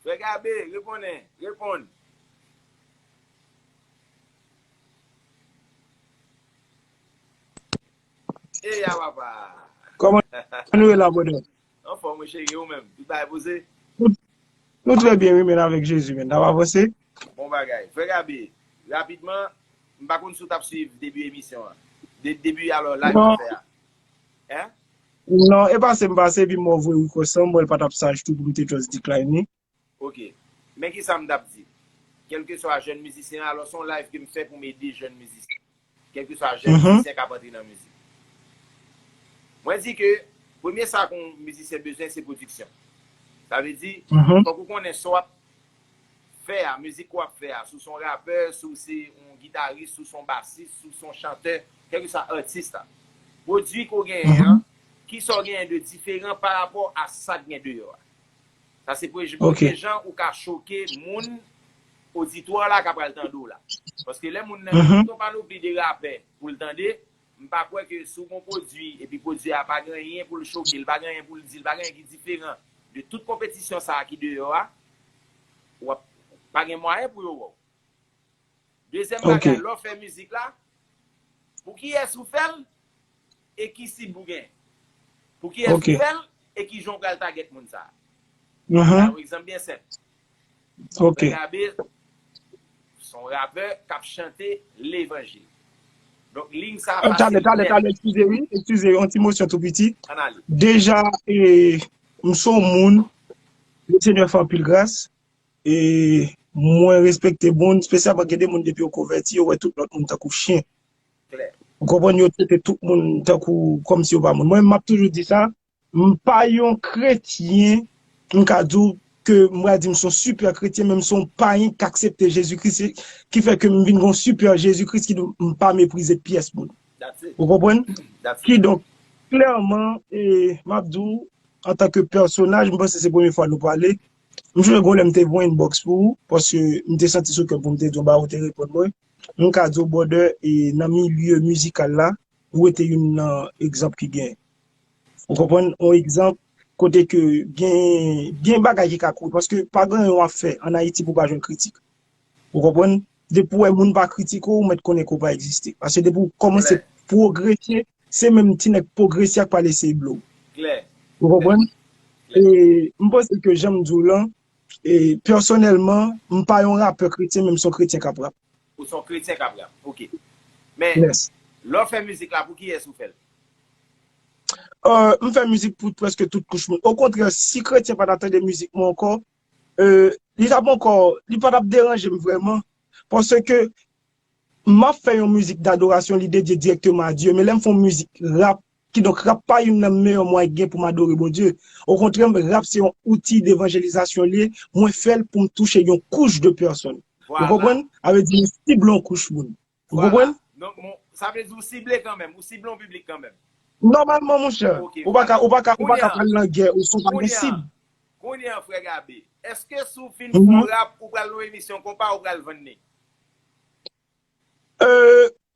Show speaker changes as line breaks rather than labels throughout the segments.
Frè Gabe, reponnen, reponn. E ya papa!
Kòman nou ye la brother? Anfòm wi cheri, e
ou menm? Tout bagay poze? Nou
trè byen wi men avèk Jezi men, nap avanse. Bon bagay. Frè
Gabe, rapidman, m pa konn si w tap swiv debi emisyon an. Debi alò live ou fè a. Hein? Ou non
e pasem pase epi mò vre wi kwesanm mwen pa tap saj tou poum te just decline li. Ok.
Men kisa m tap di. Kelkeswa jèn mizisyen an, alò se yon live ke m fè pou m ede jèn mizisyen. Kelkeswa jèn mizisyen kap antre nan mizik. Mwen di ke premye sa yon mizisyen bezwen se pwodiksyon. Sa vle di fòk ou konnen sa w ap. fè a, mizik wap fè a, si w se yon rapè, si w se yon gitaris, si w se yon basis, si w se yon chantè, kèlkeswa atis la, pwodui ke w genyen an, kisa w genyen de diferan pa rapò a sa k gen deyò a. Sa se premye jan ou ka choke moun, oditwa w la ka pral tande w la. Paske lè moun nan gen tout yon panopli de rapè pou l tande, M pa kwè ke si w gen yon pwodui epi pwodui a pa gen anyen pou l choke, li pa gen anyen pou l di, li pa gen anyen ki diferan de tout konpetisyon sa a ki deyò a, w ap pa gen mwayen pou yo wè w. Dezyèm bagay, lè w fè mizik la, pou kiyès ou fè l e ki sib ou gen? Pou kiyès ou fè l e ki jan w pral tagèt moun sa a? M ba w yon egzanp byen senp. Son frè Gabe son rapè kap chante levanjil. Donk ligne sa pase nèt. Tande tande eskize
wi eskize yon ti mosyon tou piti. Ann ale. Deja m son moun le senyè fè anpil gras e mwen respekte moun spesyalman gen de moun depi yo konvèti yo wè tout lòt moun tankou chyen. Klè. Ou konprann yo trete tout moun tankou kòmsi yo pa moun. Mwen menm map toujou di sa. M pa yon kretyen, m ka di w ke m pral di m son sipè kretyen men m son payen k aksepte Jezi Kris se ki fè ke m vin gon sipè Jezi Kris ki donk m pa meprize pyès moun. Ou konprann? Ki donk klèman e m ap di w antanke pèsonaj m panse se premye fwa nou pale, m sonje gon lè m te voye inbox pou ou paske m te santi sou kè m pou m te di yon bagay ou te reponn mwen, m ka di w brother e nan milye mizikal la ou rete youn nan egzanp ki gen. Ou konprann? On egzanp, kote ke gen bagay ki ka kore, paske pa gen anyen wap fè an Ayiti pou pa jwenn kritik. Ou konprann? Depi ou wè moun pa kritike w, ou mèt konnen ke ou pa egziste. Paske depi ou kòmanse pwogrese, se menm ti nèg pwogrese a k pral eseye ble w. Klè. Ou
konprann?
E m panse ke jan m di w lan, e pèsonèlman, m pa yon rapè kretyen men m son kretyen k ap rap. Ou son kretyen
kap rap ok men lè w fè mizik la pou kiyès ou fèl?
M fè mizik pou prèske tout kouch moun okontrè si kretyen pa ta tande mizik mwen ankò li tap ankò li pa tap deranje m vrèman paske map fè yon mizik dadorasyon li dedye dirèkteman a Dye men lè m fè yon mizik rap Kidonk rap pa youn nan meyè mwayen k gen pou m adore Bondye. Okontrè rap se yon outil devanjelizasyon li ye, mwen fè l pou m touche yon couche de personne. Ou konprann? A vle di m sible yon kouch moun. Ou konprann? Sa
vle di ou sible kanmenm, ou sible yon piblik kanmenm. Nòmalman monchè,
ou pa ka ou pa ka ou pa ka pral nan gè ou san w pa gen sib. Kounye an frè
Gabe, èske si w fin fè yon rap ou pral nan yon emisyon konpa ou pral vann li?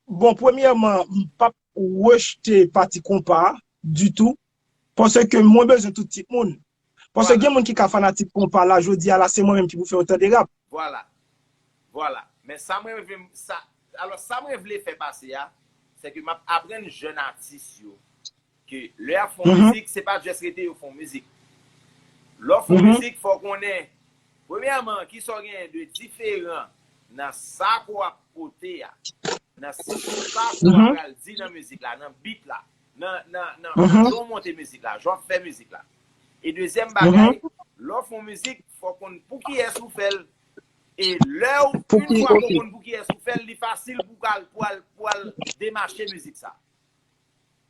Bon premyèman m pap rejte pati konpa ditou paske mwen bezwen tout tip moun paske gen moun ki ka fanatik konpa la jodi a la se mwen menm ki pou fè yo tande rap. Vwala
vwala men sa mwen vle sa alò sa mwen vle fè pase a sèke map aprann jèn atis yo Ke lè yap fon mizik se pa just rete yo fon mizik. Lè w fon mizik fò w konnen premyèman kisa w genyen de diferan nan sa ke w ap pote a, nan sa ke w pral di nan mizik la, nan beat la, nan jan w monte mizik la, jan w ap fè mizik la. E dezyèm bagay, lè w fon mizik fò w konn pou kiyès ou fè l. E lè w, une fwa ke w konn pou kiyès ou fè l, li fasil pou w al demache mizik sa.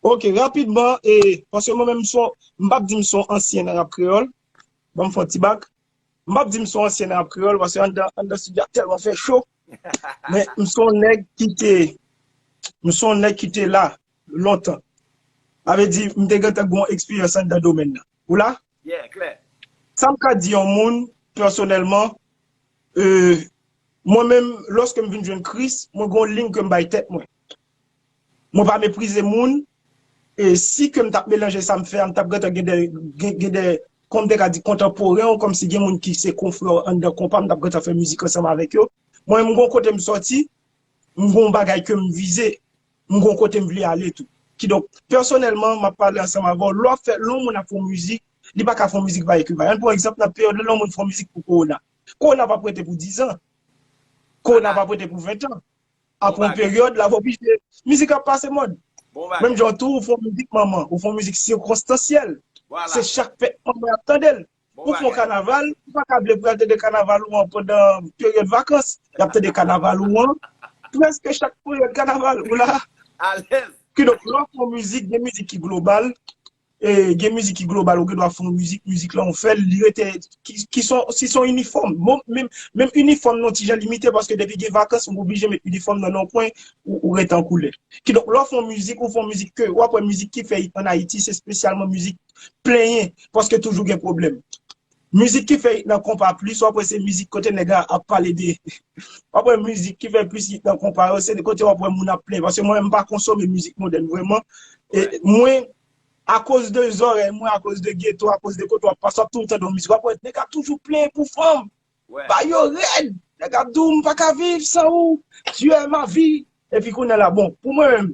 Ok
rapidman e paske mwen menm son m pap di m son ansyen nan rap kreyòl banm fon ti bak m pap di m son ansyen nan rap kreyòl paske anndan studio a tèlman fè cho men m son nèg ki te m son nèg ki te la lontan sa vle di m te gentan gon eksperyans anndan domèn nan ou la? Yeah
klè. Sa m ka di
yon moun pèsonèlman e mwen menm lòske m vin jwenn Kris mwen gon liy ke m bay tèt mwen Mwen pa meprize moun, e si ke m tap melanje sa m fè a m tap gentan gen 2 gen 2 kòm m te ka di kontanporen ou kòm si gen moun ki se konfrè w anndan konpa m tap gentan fè mizik ansanm avèk yo. Mwen menm m gon kote m sòti, m gon bagay ke m vize, m gon kote m vle ale tou. Kidonk, pèsonèlman map pale ansanm avè w, lè w ap fè lè yon moun ap fè yon mizik, li pa ka fè yon mizik ki pa ekwivalan. Ann pran egzanp nan peryòd la lè yon moun fè yon mizik pou kowona. Kowona pap rete pou dizan. Kowona pap rete pou ventan. Apre yon peryòd, la va oblije. Mizik ap pase mòd. Menm jan tou, ou fè yon mizik manman, ou fè yon mizik sikonstansyèl. Se chak fèt manman y ap tande l. Ou fè yon kanaval, ou pa ka vle pou y al tande kanaval ou an pandan peryòd vakans. Y ap tande kanaval ou an prèske chak peryòd kanaval. Ou la. Alèz.
Kidonk, lè w ap fè yon
mizik, gen mizik ki global, Gen mizik ki global ou gen dwa fè yon mizik, mizik lan ou fèl li rete ki son si son inifòm menm inifòm nan yon ti jan limite paske depi gen vakans ou oblije met inifòm nan nan yon kwen ou rete an koulè. Kidonk lè w fè yon mizik ou fè yon mizik ke wap wè mizik ki fè it an Ayiti se spesyalman mizik plenyen paske toujou gen pwoblèm. Mizik ki fè it nan konpa plis wap wè se mizik kote nèg la ap pale de wap wè mizik ki fè plis it nan konpa yo se kote wap wè moun ap plen paske mwen menm mpa konsome mizik modèn vrèman e mwen akoz de zòrèy mwen akoz de geto akoz de kote wap pase wap toujou tande yon mizik wap wè nèg ap toujou plen pou fanm ba yo rèd nèg ap di w mpaka viv san ou tu es ma vie epi kounye la bon pou mwen menm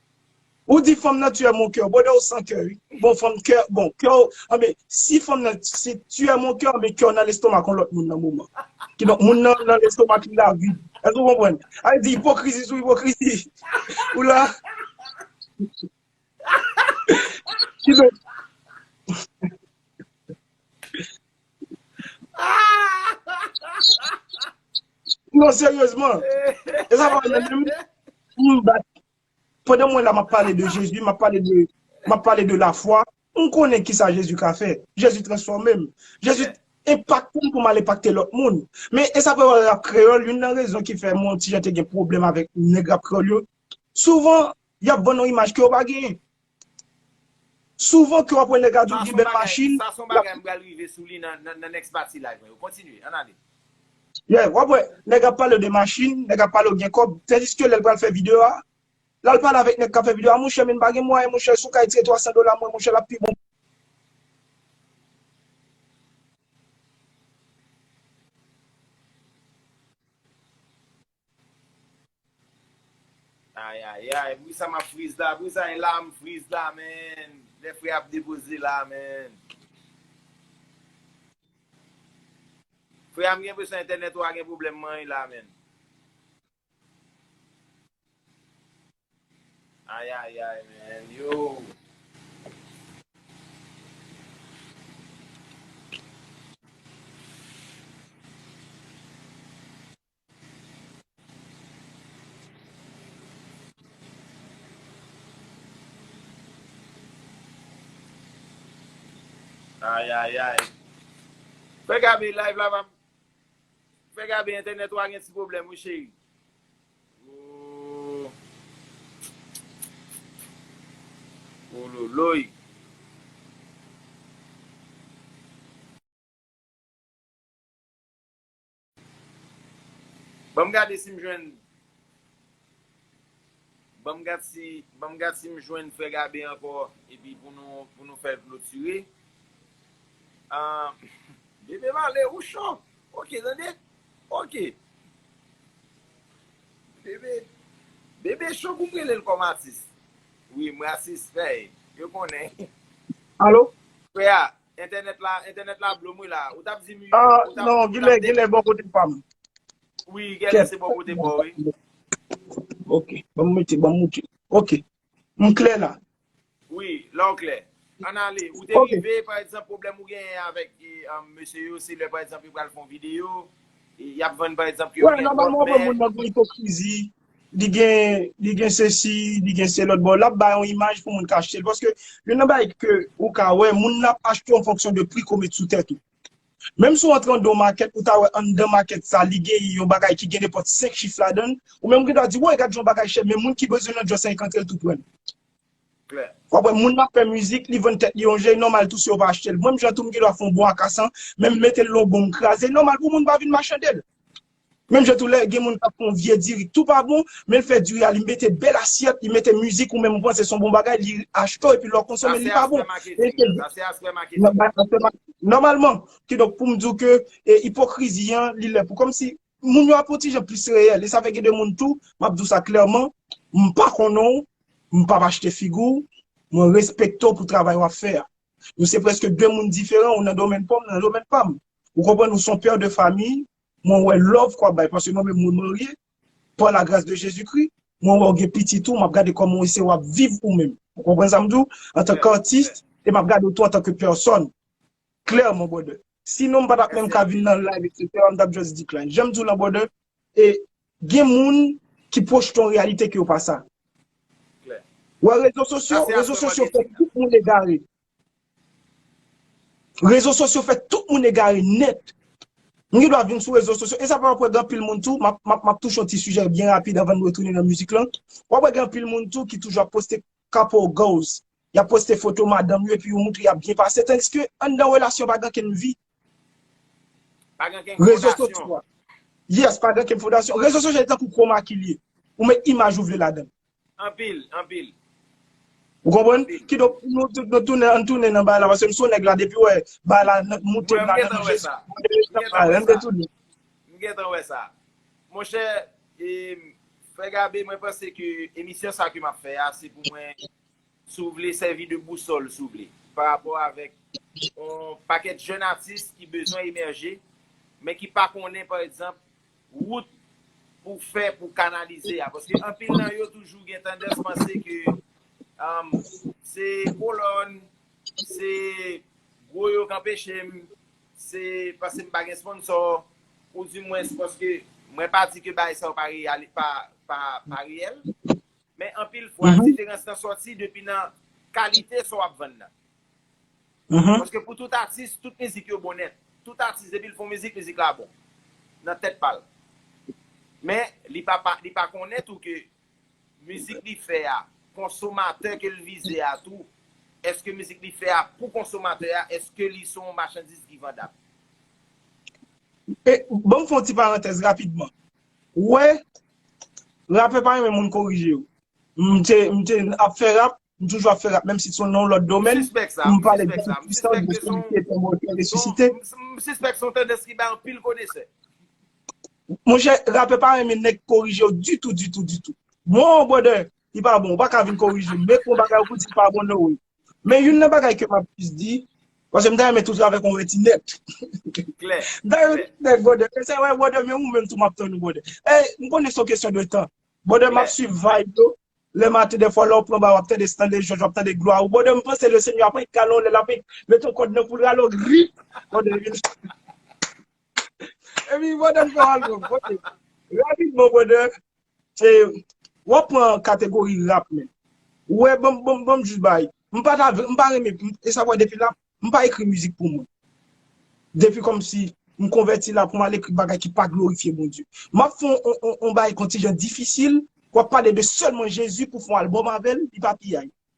Ou di fanm nan tu es mon coeur brother ou san kè wi bon fanm kè bon kè w anben si fanm nan si tu es mon coeur anben kè w nan lestomak yon lòt moun nan moman kidonk moun nan nan lestomak li la vid èske ou konprann sa vle di ipokrizi sou ipokrizi ou la kidonk Non seryezman, e sa pa wè menm menm, m bat, pandan mwen la m ap pale de Jezi, m ap pale de, m ap pale de lafwa, m konnen ki sa Jezi ka fè, Jezi transfòme m, Jezi enpakte m pou m al enpakte lòt moun. Men e sa pa wè rap kreyòl, youn nan rezon ki fè mwen yon ti jan te gen pwoblèm avèk nèg rap kreyòl yo, souvan y ap vann yon imaj ke yo pa genyen. Souvan ke wap wè nèg la di ou gen bèl machin. Sa son bagay m pral rive
sou li nan next pati live mwen yo. Kontinye, ann ale. Yeah, wap
wè nèg ap pale w de machin, nèg ap pale w gen kòb, tandiske lèl pral fè video a, lal pale avèk nèg kap fè video a, monchè men m pa gen mwayen monchè, si w ka retire 300 dola mwen monchè lap pi bon.
Ayayay pou kisa map friz la pou kisa e la m friz la menn lè frè ap depoze la menn frè a m gen enpresyon entènèt ou a gen pwoblèm man e la menn ayayay menn yoo. Ayayay Frè Gabe live la pa Frè Gabe entènèt ou a gen ti pwoblèm wi cheri Ooh Wololoy Banm gade sim jwenn Banm gad si Banm gad sim jwenn frè Gabe ankò epi pou nou pou nou fèl klotire Ahh Bebe Marley ou cho ok tande ok Bebe Bebe cho pou m relel kòm atis Wi m rasis fèy yo konnen Alo
Frè a
Entènèt la, entènèt la blom wi la. Ou tap dim ui, ou tap dim ui. Ahh non, gilè,
gilè bò kote pam. Wi,
gèlè se bò kote paw wi.
Ok, banm mete, banm moutre. Ok, m klè la. Wi, la
w klè. Ann ale, ou te rive, pa egzanp, pwoblèm ou genyen avèk mesye yo, se lè pa egzanp yo pral fè yon videyo, yap vann pa egzanp ke yo gen lòt mè. Wè, nòmalman ou wè moun
nan gen ipokrizi, li gen li gen sesi li gen selòt bon lap bay yon imaj pou moun ka achtel paske youn nan bagay ke ou ka wè moun nan ap achte an fonksyon de pri ke w met sou tèt ou menm si w antre anndan yon makèt ou ta wè anndan makèt sa li gen yon bagay ki gen nenpòt 5 chif ladan l ou menm ou gendwa di woy gad jan bagay chè men moun ki bezwen nan jòs sa li ka antre l tou pran l w ap wè moun nan ap fè mizik li vann tèt li yon je li nòmal tou si yo pa achte l menm jan tou m gendwa fè yon bon akasan menm m mete l nan yon bon m kraze l nòmal pou moun pa vin machande l Menm jan tou lè gen moun kap fè yon vye diri tou pa bon, menl fè diri a li mete bèl asyèt, li mete mizik ou menm ou panse se yon bon bagay li achte w epi lè w konsome l li pa bon. Sa se aspè maketing nan. Sa se aspè maketing nan. Nòmalman, kidonk poum di w ke ipokrizi an li lè pou kòmsi moun yo ap yon ti jan plis reyèl e sa fè gen de moun tou, map di w sa klèman, m pa konnen w, m pap achte figi w, mwen respekte w pou travay wap fè a. Nou se prèske de moun diferan, ou nan domèn pa w, mwen nan domèn pa m. Ou konprann, ou se yon père de famille, Mwen wè love kwa bay paske mwen menm mwen marye par la grâce de Jésus Christ mwen wè ou gen pitit ou map gade koman ou eseye wap viv ou menm ou konprann sa m di w antan k artiste e map gade w tou antan ke personne clairement brother si non m patap menm ka vin nan live etc m tap just decline janm di w lan brother e gen moun ki projte yon réalité ke yo pa sa wè rezo sosyo rezo sosyo fè tout moun egare. Rezo sosyo fè tout moun egare nèt. M gen dwa vin sou rezo sosyo, e sa pa anpwen gen anpil moun tou, map touche yon ti sijè byen rapid anvan nou retounen nan mizik lan. Wap wè gen anpil moun tou ki toujou ap poste couple goals, yap poste foto madanm yo epi yo montre yap byen pase tandiske anndan relasyon pa gen ankenn vi.
Rezo sosyal.
Yes, pa gen ken fondasyon. Rezo sosyal se tankou chroma key li ye. Ou met imaj ou vle ladan l. Anpil,
anpil.
Ou konprann? Kidonk, nou tout nou tounen, ann tounen nan bagay la paske m son nèg la depi wè bagay la nan moute nan nan nou jezi. M gentan wè sa.
M gentan wè sa. Monchè, Frè Gabe mwen panse ke emisyon sa ke m ap fè a se pou mwen Si w vle sèvi de bousòl, si w vle, pa rapò avèk yon pakèt jèn atis ki bezwen emèje, men ki pa konnen, pa egzanp, wout pou w fè pou w kanalize a. Paske anpil nan yo toujou gen tandans panse ke se kolòn, se gwo yo k anpeche m, se paske m pa gen sponsò, ou di mwens paske mwen pa di ke bagay sa yo pa reyèl, Men anpil fwa diferans lan sòti depi nan kalite sa w ap vann nan. Paske pou tout atis, tout mizik yo bon nèt. Tout atis depi l fè yon mizik, mizik la bon. Nan tèt pa l. Men li pa konnen tou ke mizik li fè a, konsomatè ke l vize a tou, èske mizik li fè a pou konsomatè a, èske li se yon machandiz ki vandab.
Bon m fè yon ti parantèz rapidman. Ou wè, rapè pa renmen moun korije yo. M te ap fè rap, m toujou ap fè rap menm si t s on nan yon lòt domèn. M suspèk sa, m sispèk sa, m sispèk ke s on, m sispèk
s on tandans ki bay anpil konesè.
Monchè, rapè pa renmen nèg korije yo ditou, ditou, ditou. Bon, brother, li pa bon, ou pa ka vin korije m. Mèt m yon bagay ou pou di l pa bon no way. Men youn nan bagay ke m ap plis di, paske m ta renmen tou travè kon reti nèt. Klè.
Dayou ti nèg
brother, men sa wè brother men ou menm tou m ap tann ou brother. Ey, m konnen se yon kesyon de tan. Brother m ap swiv vibe yo, lè maten dèfwa lè ou pran ba w ap tande Stanley George, w ap tande glwa ou. Brother m panse le Senyè ap annik kale w lè l ap annik mete yon kòd nan kou l rale w grip. Brother epi nou Epi brother n fè w al bon kote. Rapidman brother, E wap pran kategori rap menm. Ou wè banm banm banm jis bay. M pa ta vle m pa renmen e sa wè depi la m pa ekri mizik pou mwen. Depi kòmsi m konvèti la pou m al ekri bagay ki pa glorifye Bondye. M ap fè yon bagay ki yon ti jan difisil, wap pale de sèlman Jezi pou fè yon albòm avè l, li pa piyay.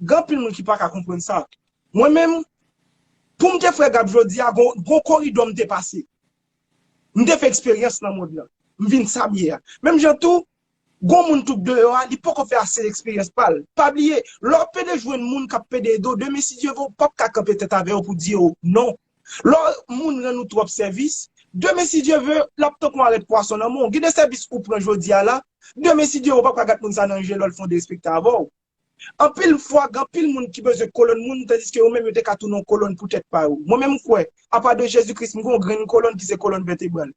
Gen anpil moun ki pa ka konprann sa. Mwen menm, pou m te frè Gab jodi a, gon koridò m te pase. M te fè eksperyans nan mond lan. M vin sa m ye a. Menm jan tou, gon moun tou k deyò a, li poko fè ase eksperyans pa l. Pa bliye, lè w ap pede jwenn moun k ap pede ede w, demen si Dye vle w p ap ka kanpe tèt avè yo pou di yo non. Lè moun rann ou twòp sèvis, demen si Dye vle, l ap tankou arèt pwason nan men w. Gen de sèvis ou pran jodi a la, demen si Dye vle w p ap ka gad moun sa nan je lè l fon derespekte avè w. Anpil fwa gen anpil moun ki bezwen kolonn moun tandiske yo menm yo te ka tounen yon kolonn pou tèt pa yo. Mwen menm m kwè, apa de Jezi Kris, m gen yon grenn kolonn ki se kolonn vètebral.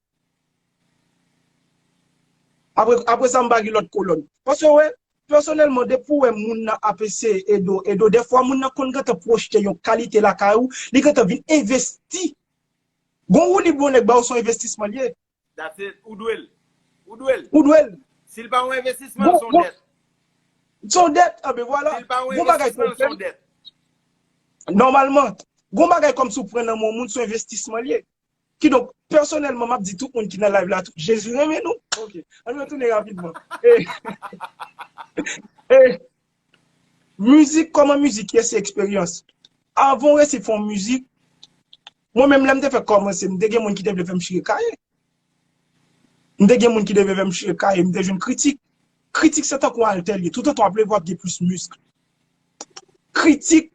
Apre sa m pa gen lòt kolonn. Paske ou wè, pèsonèlman depi ou wè moun nan ap eseye ede w, ede w, dèfwa moun nan konn gentan pwojte yon kalite lakay ou, li gentan vin envesti. Gon woulib yon nèg ba ou se yon envestisman l ye. That's it. Ou dwe
l. Ou dwe l. Ou dwe l.
Si l pa yon envestisman,
son dèt. Son
dèt. Ah ben vwala. Si l pa yon envestisman, l
son dèt.
Nòmalman, gon bagay kòmsi ou pran nan men yon moun, son envestisman l ye. Kidonk, pèsonèlman, m ap di tout moun ki nan live la tou, Jezi renmen nou. Ok. An nou retounen rapidman. E. E. Mizik kòman mizik ye se eksperyans avan w resi fè yon mizik mwen menm lè m te fèk kòmanse m te gen moun ki te vle fè m chire kaye m te gen moun ki te vle fè m chire kaye m te jwenn kritik kritik se tankou altè l ye tout otan w ap leve w ap gen plis misk kritik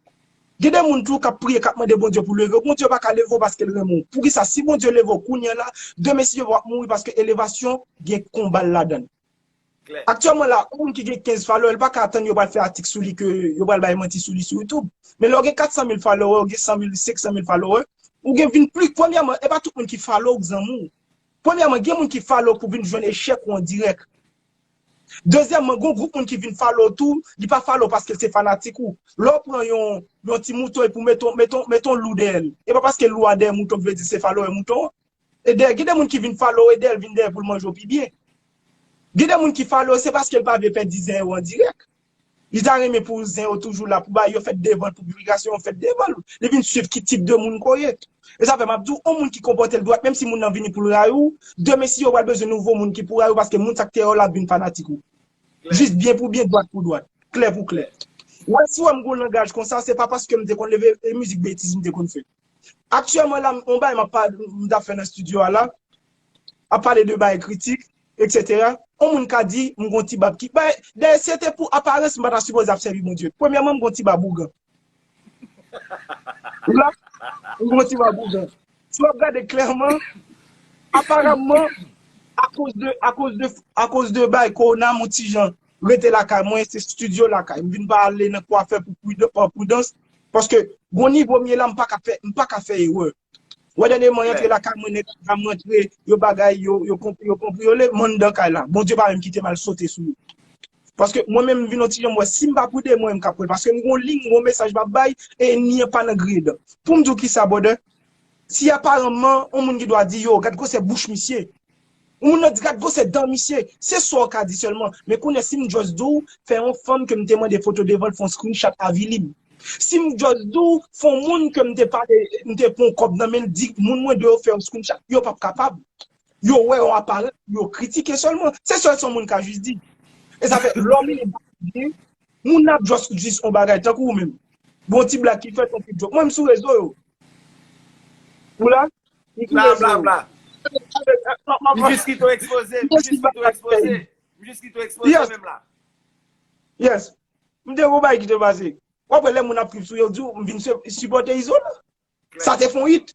gen de moun tou k ap priye k ap mande Bondye pou leve w Bondye pa ka leve w paske l renmen w poukisa si Bondye leve w kounye a la demen si je vle w ap mouri paske elevasyon gen konba l ladan l. Aktyèlman la, yon moun ki gen 15 followè, li pa ka atann yo pral fè atik sou li ke yo pral bay manti sou li sou YouTube. Men lè ou gen 400 mil followè, ou gen 100 mil, 500 mil followè, ou gen vin pli, premyèman, e pa tout moun ki follow ou k zanmi w. Premyèman, gen moun ki follow pou vin jwenn echèk ou an dirèk. Dezyèmman, gen yon gwoup moun ki vin follow ou tou, li pa follow paske l se fanatik ou. Lè ou pran yon yon ti mouton epi ou mete yon mete yon mete yon lou dèyè l, e pa paske lou a dèyè mouton ki vle di se followè mouton an. Eder gen de moun ki vin follow Eder vin dèyè poul manje w pi byen. Gen de moun ki follow se paske l pa vle pèdi zen yo an dirèk. Li ta renmen pou zen yo toujou la pou bay yo fèt devan l pou piblikasyon yo fèt devan l. Li vin swiv ki tip de moun ke w ye. E sa fè map di w on moun ki konpòte l dwat menm si moun nan vini pou l rayi w, demen si yo pral bezwen nouvo moun ki pou rayi w paske moun sa k te rayi w la ap vin fanatik ou. Jis byen pou byen dwat pou dwat. Klè pou klè. Wè si w wè m gon langaj konsa se pa paske m te konn leve e mizik betiz m te konn fè. Aktyèlman la m yon bagay map m tap fè nan studio a la, ap pale de bagay kritik etc. Yon moun ka di m gon ti bab ki bay dayè si se te pou aparans m pa ta sipoze ap sèvi Bondye. Premyèman m gon ti bab ougan. Ou la? M gon ti bab ougan. Si wap gade klèman, aparamman akoz de akoz de akoz de bagay kowona m yon ti jan rete lakay mwen se studio lakay m vin pa ale nan kwafè pa pridans paske gon nivo m ye la m paka fè m paka fè erè wè dènyèman y antre lakay mwen nèg anba m rantre yo bagay yo yo konpriyole m anndan kay la Bondye pa menm kite m al sote sou yo paske mwen menm m vin on ti jan m wè si m pa pride mwen menm k ap pran l paske m gon liy m gon mesaj m ap bay e ènmi an pa nan griye dan pou m di w kisa brother si aparanman on moun gen dwa di yo gad gwosè bouch misye. Yon moun nan di gad gwosè dan misye, se sa w ka di sèlman, men kounye si m just di w fè yon fanm ke m te mande foto devan l fè yon screenshot avili m. Si m just di w fè yon moun ke m te pale, m te pran yon kòb nan men l di moun mwen dwe yo fè yon screenshot, yo p ap kapab. Yo wè yon aparans pou yo kritike sèlman. Se sèl sa yon moun ka just di. E sa fè lè w mele bak ak byen, moun nan ap just di yon bagay tankou ou menm. Gon ti blag ki fèt, yon ti joke. Mwen m sou rezo yo. Ou la? Bla
bla bla. M jis kite w ekspoze. M jis
kite w ekspoze. M jis
kite w
ekspoze menm la. Yes. M te wou bay ki te pase. W ap wè lè moun ap trip sou yo di w m vin sipòte izo la. Sa te fon it.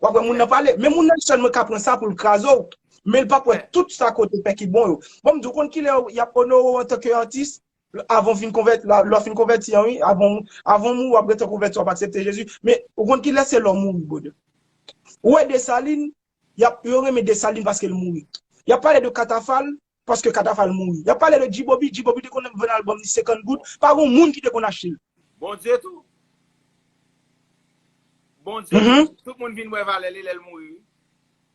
W ap wè moun nan pale. Men moun nan sèlman ka pran sa pou l kraze w. Men l pa p wè tout sa ke w te fè ki bon yo. Bon m di w konn kilè y ap onore w antanke atis? Avan ou fin konvèti, lè ou fin konvèti an wi, avan ou, avan ou mouri wap gentan konvèti wap aksepte Jezi, men ou konn kilè se lè ou mouri brother. Ou wè Desalin, yap, yo renmen Desalin paske l mouri. Yap pale de Katafal, paske Katafal mouri. Yap pale de G-Bobby, G-Bobby te konn vann album li 50 goud, pa gon moun ki te konn achte l. Bondye tou.
Bondye tou, tout moun vin wè valè li lè l mouri wi.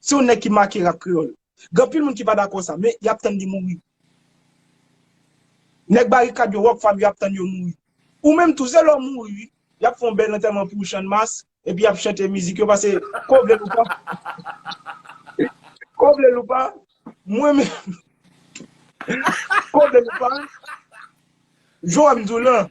Se yon nèg ki make rap kreyòl. Gen anpil moun ki pa dakò sa, men y ap tann li mouri. Nèg Barikad yo, Rock Fam yo ap tann yo mouri. Ou menm tou, se lè w mouri wi. Y ap fè yon bèl antèman pou ou channmas, epi y ap chante mizik yo pase ke w vle l ou pa. Ke w vle l ou pa, mwen menm, ke w vle l ou pa, jan w wè m di w lan,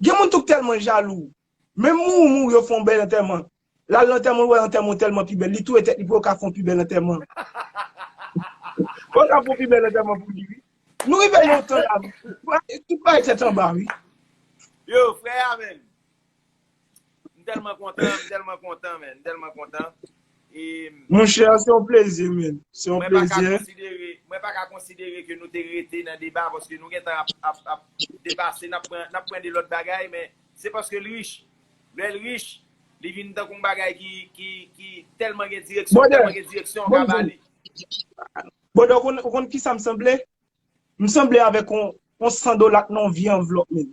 Gen moun tou k tèlman jalou. Menm mouri mouri yo fè yon bèl antèman. L al lantèman l wè antèman w tèlman pi bèl li touye tèt li pou yo ka fè yon pi bèl antèman. Pou yo ka fè yon pi bèl antèman pou li wi. Nou rive nan yon tan lavi tout bagay tèt anba wi. Yo frè
a menm. M telman kontan, m telman kontan men, m telman kontan. Mon chè, se yon
plezi men, se yon plezi. Mwen pa ka
konsidere ke nou te rete nan deba, paske nou gen tan ap depase, nap pran de lòt bagay, men se paske l rich. Lè l rich, li vin tankou yon bagay ki telman gen direksyon, telman gen direksyon an ka bale.
Bòdè, ou konn kisa m sanble? M sanble avèk yon 100 dola k nan yon vye anvlòp men.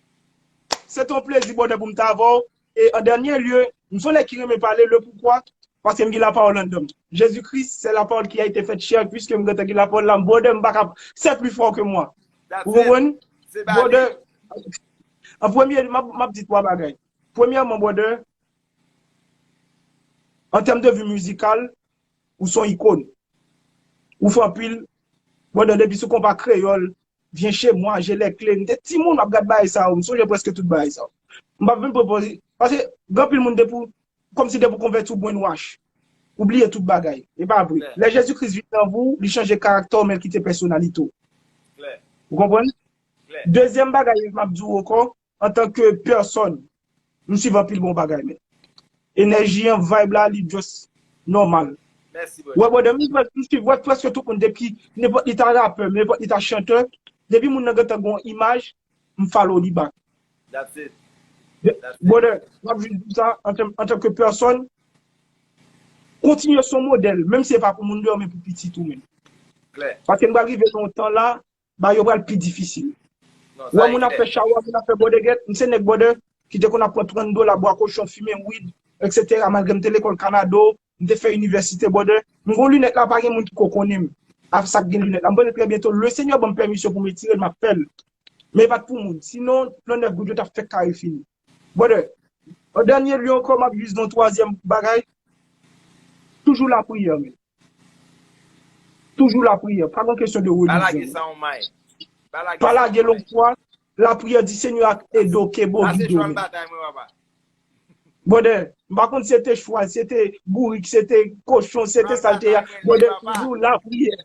Se te yon plezi bonè pou m t avè w. E an dènye lye, m se yon nèg ki renmen pale, le poukwa, paske m gen lapawòl anndan m. Jezi Kris se lapawòl ki a ete fèt chè, piske m gentan gen lapawòl la, brother m pa ka, c'est plus fort que moi. Ou konprann? Brother, an premye lye, m ap di 3 bagay. Premyèman brother, an tèm de vi mizikal, ou se yon ikon. Ou fè anpil, brother depi sou konpa kreyòl, Viens chez moi, j'ai les clés. M te timoun m ap gad bagay sa yo, m sonje prèske tout bagay sa yo. M pa vin pran pòz, paske gen anpil moun depi w, kòmsi depi w konvèti w brain wash. Ou bliye tout bagay. E pa vre. Lè Jezi Kris vin nan vi w, li chanje karaktè w men l kite pèsonalite w. Ou konprann? Dezyèm bagay m ap di w ankò, antan ke pèsòn m swiv anpil bon bagay men enèji an vibe la li just nòmal wè
brother m swiv
wè prèske tout moun depi nenpòt li ta rapè nenpòt li ta chantè depi moun nan gentan gen yon imaj m follow li back brother m ap jis di w sa antan ke pèsòn kontinye son modèl menm si e pa pou moun deyò men pou pitit ou menm paske n pral rive nan yon tan la Ba yo pral pi difisil. Ou wè moun ap fè chawa, moun ap fè bòdè gèt, m se nèg bòdè ki te konn ap pran 30 dola bwa kochon, fimen weed, etc. Malgre m te lekòl kanado, m te fè inivèsite bòdè, m gon linèt la pa gen moun ki ko konnen m avk sak gen linèt la. M konnen trè byen to le senyè banm pèmisyon pou m etire l map fèl. Men e pat pou moun. Sinon 39 goud yo tap fèk kare fini. Bòdè, an dènye lye ankò map jis di yon twazyèm bagay, toujou lapriyè men. Toujou lapriyè. Pa nan kesyon de relijyon. Pa lage lon fwa. Lapriyè di Senyè ak ede w kenbe w gide w men. Brother, m pa konn si se te chwal, si se te bourik, si se te kochon, si se te sa l te ye a, brother toujou lapriyè.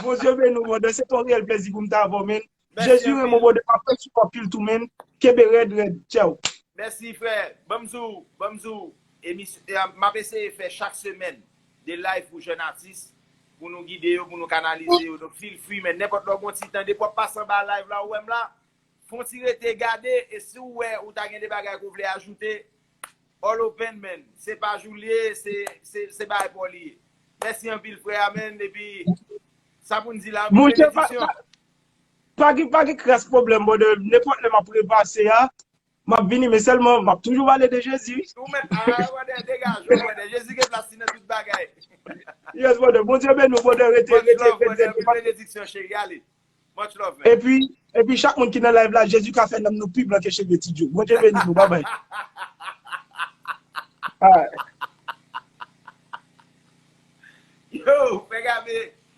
Bondye beni w brother, se te yon reyèl plezi pou m t avè w men. Jezi renmen w brother map fè sou anpil tou menn kenbe rèd rèd tchèw. Mèsi frè,
banm di w, banm di w emisyon, map eseye fè chak semèn 2 live pou jèn atis pou nou gide yo, pou nou kanalize yo, donk feel free men nenpòt lè w gon ti tan depi wap pase anba live la ou wè m la, fon ti rete gade e si w wè ou ta gen de bagay ke w vle ajoute all open man, se paj ou l ye, se bagay pa w li ye. Mèsi anpil frè a man epi sa pou n di la anpil benediksyon.
Pa gen pa gen kras pwoblèm brother nenpòt lè map repase a map vini men sèlman map toujou pale de Jezi wi. Ou menm ah brother
degaj ou brother Jezi gen plas li nan tout bagay. Yes
brother Bondye beni w brother rete rete rete. Much love brother pi benediksyon
cheri ale. Much love man. Epi epi chak moun
ki nan live la Jezi ka fè nanm nou pi blan ke cheve ti Joe. Bondye beni nou bye bye. Yo
fè gabe.